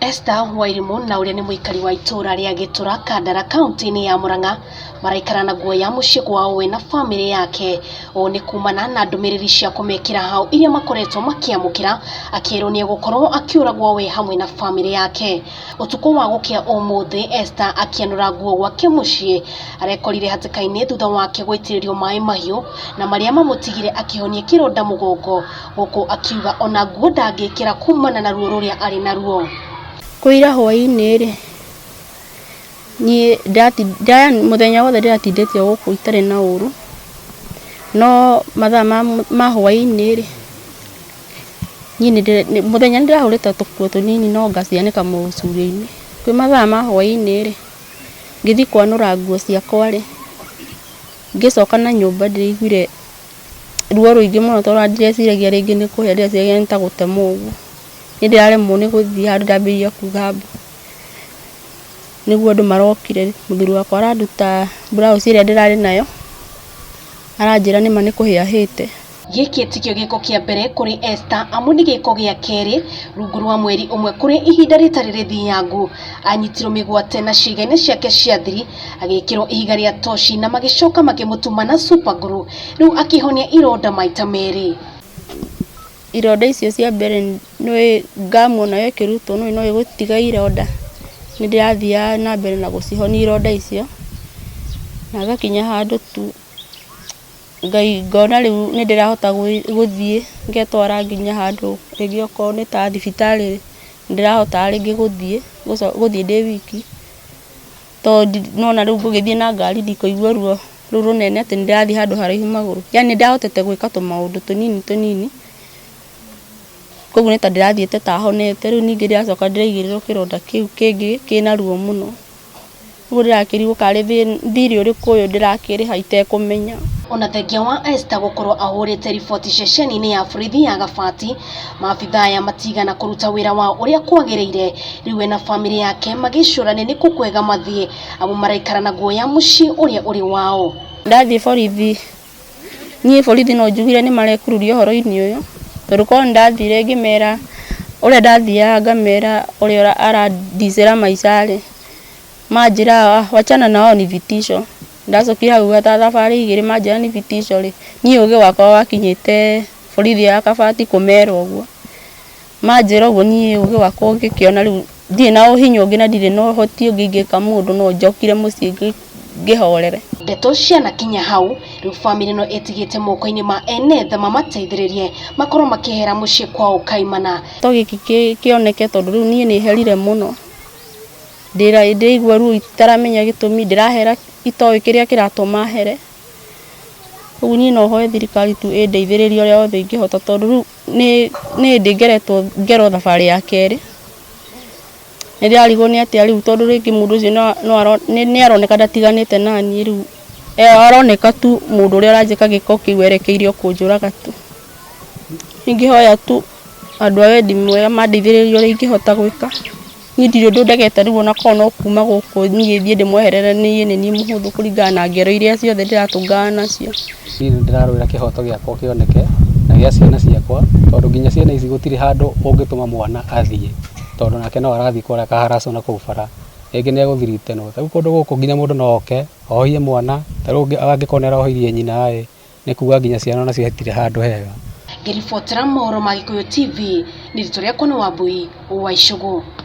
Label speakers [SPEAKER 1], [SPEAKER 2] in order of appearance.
[SPEAKER 1] Esther Wairimu na ũrĩa nĩ mũikari wa itũũra rĩa Gĩtũra Kandara kaunti-inĩ ya Murang'a maraikara na guoya mũciĩ kwao we na bamĩrĩ yake. Ũũ nĩ kumana na ndũmĩrĩri cia kũmekĩra hao iria makoretwo makĩamũkĩra akĩrwo nĩ egũkorwo akĩũragwo we hamwe na bamĩrĩ yake. Ũtukũ wa gũkĩa ũmũthĩ Esther akĩanũra nguo gwake mũciĩ arekorire hatĩka-inĩ thutha wake gũitĩrĩrio maĩ mahiũ na marĩa mamũtigire akĩhonia kĩronda mũgongo. Gũkũ akiuga o na nguo ndangĩkĩra kumana na ruo rũrĩa arĩ naruo. Kũira
[SPEAKER 2] hwaĩ-inĩ-rĩ, niĩ ndati, mũthenya wothe ndĩratindĩte o gũkũ itarĩ na ũru, no mathaa ma, ma hwaĩ-inĩ-rĩ, niĩ nĩndĩ, mũthenya nĩndĩrahũrĩte tũkuo tũnini no ngacianĩka mũcurio-inĩ. Kwĩ mathaa ma hwaĩ-inĩ-rĩ, ngĩthiĩ kwanũra nguo ciakwa-rĩ, ngĩcoka na nyũmba ndĩraiguire ruo rũingĩ mũno tondũ ona ndireciragia rĩngĩ nĩ kũhĩa ndĩreciragia nĩ ta gũtemwo ũguo. Nĩ ndĩraremwo nĩ gũthiĩ handũ ndambĩrĩria kuga mbu. Nĩguo andũ marokire, mũthuri wakwa aranduta mburauci ĩrĩa ndĩrarĩ nayo, aranjĩra nĩ ma nĩ kũhĩa hĩte. Gĩkĩ tikĩo
[SPEAKER 1] gĩko kĩa mbere kũrĩ Esther amu nĩ gĩko gĩa kerĩ rungu rwa mweri ũmwe kũrĩ ihinda rĩtarĩ rĩthinyangu. Aanyitirũo mĩgwate na ciĩga-inĩ ciake cia thiri, agĩkĩrũo ihiga rĩa toci na magĩcoka makĩmũtuma na super glue. Rĩu akĩhonia ironda maita merĩ.
[SPEAKER 2] Ironda icio cia mbere ngamuona yo ĩkĩrutwo nĩ ũndũ no ĩgũtiga ironda. Nĩ ndĩrathiaga na mbere na gũcihonia ironda icio na ngakinya handũ tu. Ngai ngona rĩu nĩ ndĩrahota gũthiĩ ngetwara nginya handũ rĩngĩ okorwo nĩ ta thibitarĩ nĩ ndĩrahotaga rĩngĩ gũthiĩ, gũthiĩ ndĩ wiki, tondũ nĩ wona rĩu ngũgĩthiĩ na ngari ndikũigua ruo rũu rũnene atĩ nĩ ndĩrathiĩ handũ haraihu magũrũ, yani nĩ ndĩrahotete gwĩka tũmaũndũ tũnini tũnini, kũguo nĩ ta ndĩrathiĩte ta honete, rĩu ningĩ ndĩracoka ndĩraigĩrĩrwo kĩronda kĩu kĩngĩ kĩna ruo mũno. Ũguo ndĩrakĩrigwo karĩ thirĩ ũrĩkũ ũyũ ndĩrakĩrĩha itekũmenya. Ona thengia wa
[SPEAKER 1] Esther gũkorwo ahũrĩte riboti ceceni-inĩ ya borithi ya Gabati, maabitha aya matiigana kũruta wĩra wao ũrĩa kwagĩrĩire, rĩu we na bamĩrĩ yake magĩcũrania nĩkũ kwega mathiĩ amu maraikara na guoya mũciĩ ũrĩa ũrĩ wao. Ndathiĩ borithi
[SPEAKER 2] Niĩ borithi no njugire nĩ marekururia ũhoro-inĩ ũyũ, tondũ korwo nĩ ndathire ngĩmera, ũrĩa ndathiaga ngamera ũrĩa ara ndicĩra maica rĩ, manjĩra wachana na hao ni vitisho. Ndacokire hau ta thabarĩ igĩrĩ manjĩra ni vitisho rĩ, niĩ ũgĩ wakwa wakinyĩte borithi ya Kabati kũmera ũguo. Manjĩra ũguo niĩ ũgĩ wakwa ũngĩkĩona rĩu ndirĩ na ũhinya ũngĩ na ndirĩ na ũhoti ũngĩ ingĩka mũndũ no njokire mũciĩ ngĩhorere. Ndeto cianakinya
[SPEAKER 1] hau, rĩu bamĩrĩ ĩno ĩtigĩte moko-inĩ ma ene tha mamateithĩrĩrie makorwo makĩehera mũciĩ kwao Kaimana. To gĩkĩ
[SPEAKER 2] kĩoneke tondũ rĩu niĩ nĩ herire mũno, ndĩraigua ruo itaramenya gĩtũmi, ndĩrahera itoĩ kĩrĩa kĩratũma here. Rĩu niĩ no hoe thirikari tu ĩndeithĩrĩrie ũrĩa wothe ingĩhota tondũ rĩu nĩ nĩ hĩndĩ ngeretwo ngerwo thabarĩ ya kerĩ nĩ ndĩrarigwo nĩ atĩa rĩu tondũ rĩngĩ mũndũ ũcio no no aro nĩ nĩ aroneka ndatiganĩte naniĩ rĩu e aroneka tu mũndũ ũrĩa ũranjĩka gĩko kĩu erekeire o kũnjũraga tu, ingĩhoya tu andũ a wendi mwega mandeithĩrĩrie ũrĩa ingĩhota gwĩka. Niĩ ndirĩ ũndũ ndegete rĩu ona korwo no kuuma gũkũ niĩ thiĩ ndĩmweherere niĩ nĩ niĩ mũhũthũ kũringana na ngero irĩa ciothe ndĩratũngana nacio. Niĩ nĩ ndĩrarũĩra
[SPEAKER 3] kĩhoto gĩakwa kĩoneke na gĩa ciana ciakwa tondũ nginya ciana ici gũtirĩ handũ ũngĩtũma mwana athiĩ tondũ nake no arathiĩ kũrĩa aka harass wo na kũu bara, rĩngĩ nĩ egũthirite no. Ta rĩu kũndũ gũkũ nginya mũndũ no oke ohie mwana, ta rĩu ũngĩ angĩkorwo nĩ arohirie nyina ĩ, nĩ kuuga nginya ciana o nacio hatirĩ handũ hega.
[SPEAKER 1] Ngĩribotera mohoro ma Gĩkũyũ TV,
[SPEAKER 3] nĩ
[SPEAKER 1] Ritũ Rĩakwa nĩ Wambũi wa Icũgũ.